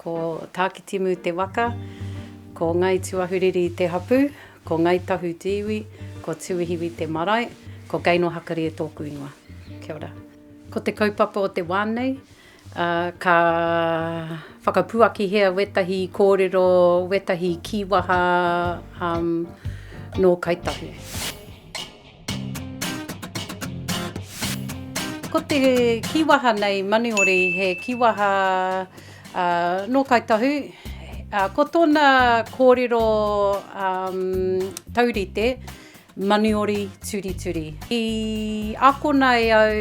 Ko Tākitimu te waka, ko Ngāi Tūahuriri te hapū, ko Ngāi Tahu te iwi, ko Tūihiwi te marae, ko Gaynor Hakarie tōku ingoa. Kia ora. Ko te kaupapa o te wā nei, ka whakapuakihia wētahi kōrero, wētahi kīwaha nō Kāi Tahu. Ko te kīwaha nei Manuhori he kīwaha nō Kāi Tahu. Ko tōna kōrero taurite, Manuhori turituri. I akona e au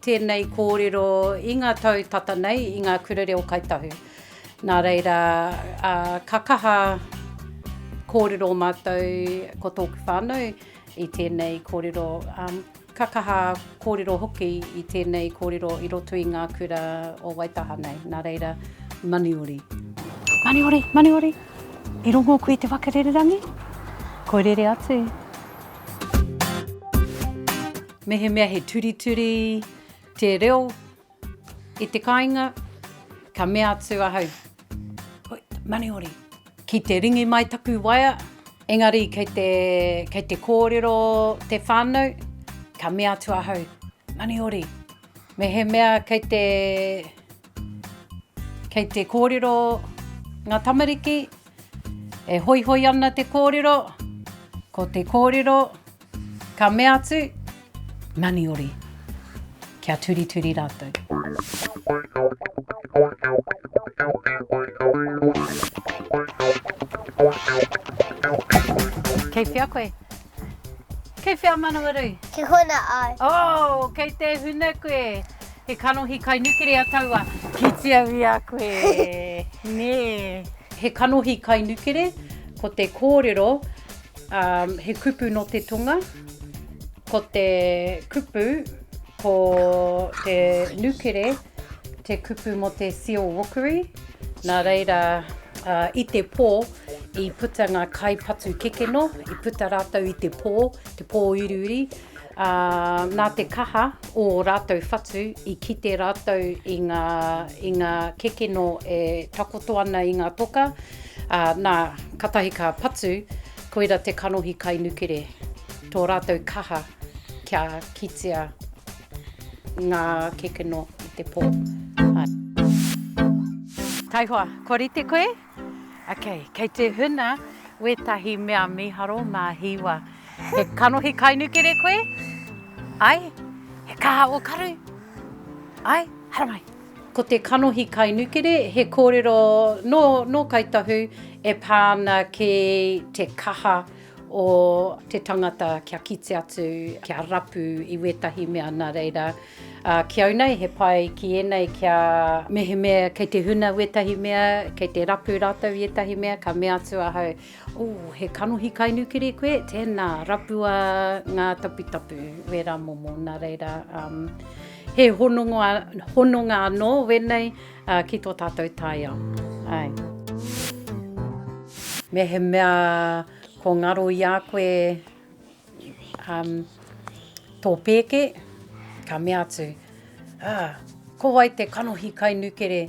tēnei kōrero i ngā tau tata nei i ngā kura reo Kāi Tahu. Nā reira, ka kaha kōrero mātou ko tōku whānau. I tēnei kōrero, ka kaha kōrero hoki i tēnei kōrero i roto i ngā kura o Waitaha nei, nā reira, Maniori. Maniori, Maniori, i rongo koe i te whakarererangi? Koi rere atu. Mehemea he turituri te reo, I te kāinga, ka mea atu ahau, Hoi, Maniori! Ki te ringi mai taku waea, engari kei te, kei te kōrero te whānau, ka mea atu ahau, Maniori! Mehemea kei te, kei te kōrero ngā tamariki, E hoihoi ana te kōrero, ko te kōrero ka mea atu, Naniori, kia turituri rātou. Kei whea koe? Kei whea Manawarui? Kei Huna au. Oh, kei Te Huna koe. He kanohi kai nukerea taua. Kitea ia koe. Nē. He kanohi kai nukere, ko te kōrero, um, he kupu no te tonga, ko te kupu, ko te nukere, te kupu mo te seal rookery, nā reira, uh, i te pō, i puta ngā kai patu kekeno, i puta rātou i te pō, te pō uriuri, Ā, nā te kaha o ō rātou whatu i kite rātou i ngā, i ngā kekeno e takoto ana i ngā toka, ā, nā, kātahi ka patu, koira te kanohi kai nukere, tō rātou kaha kia kitea ngā kekeno i te pō. Taihoa, kua rite koe? Ok, kei te huna wetahi mea miharo ma hiwa. He kanohi kainukere koe? Ai? He kaha o karu? Ai? Haramai! Ko te kanohi kainukere he korero no no Kai Tahu e pa ana ki te kaha o te tangata kia kite atu, kia rapu i wetahi mea na reira Ā, ki au nei, he pai ki ēnei kia. Mehemea kei te huna wētahi mea, kei te rapu rātou i ētahi mea, ka mea atu ahau, Ū, he kanohi kai nukiri koe? Tēnā, rapua ngā taputapu, wērā momo. Nā reira, he hononga, hononga anō wēnei ki tō tātou taiao. Āe. Mehemea ko ngaro i a koe, tō pēke, ka mea atu, ah, ko wai te kanohi kai nukere,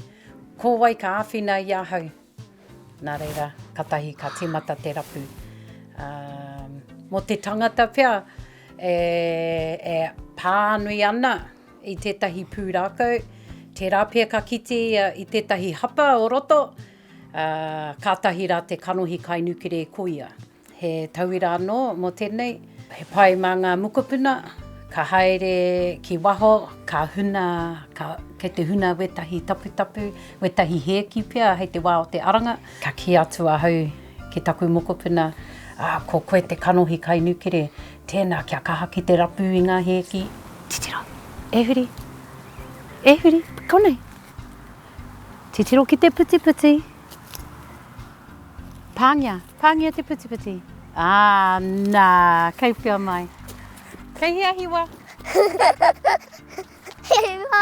ko wai ka āwhina i ahau? Nā reira, katahi ka tīmata te rapu. Um, mō te tangata pea, e, e pānui ana i tētahi pūrākau, tērā pea ka kite ia i tētahi hapa o roto, uh, kātahi rā te kanohi kai nukere ko ia. He tauira anō mō tēnei, he pai mā ngā mokopuna ka haere ki waho, ka huna, ka, kei te huna wētahi taputapu, wētahi hēki pea hei te wā o te aranga. Ka kī atu ahau ki taku mokopuna, ā, ko koe te kanohi kai nukere, tēnā kia kaha ki te rapu i ngā hēki. Titiro, e huri, e huri, konei. Titiro ki te putiputi, Pāngia, pāngia te putiputi. Ā, nā, kei whia mai. Kei hea hiwa? Hiwa!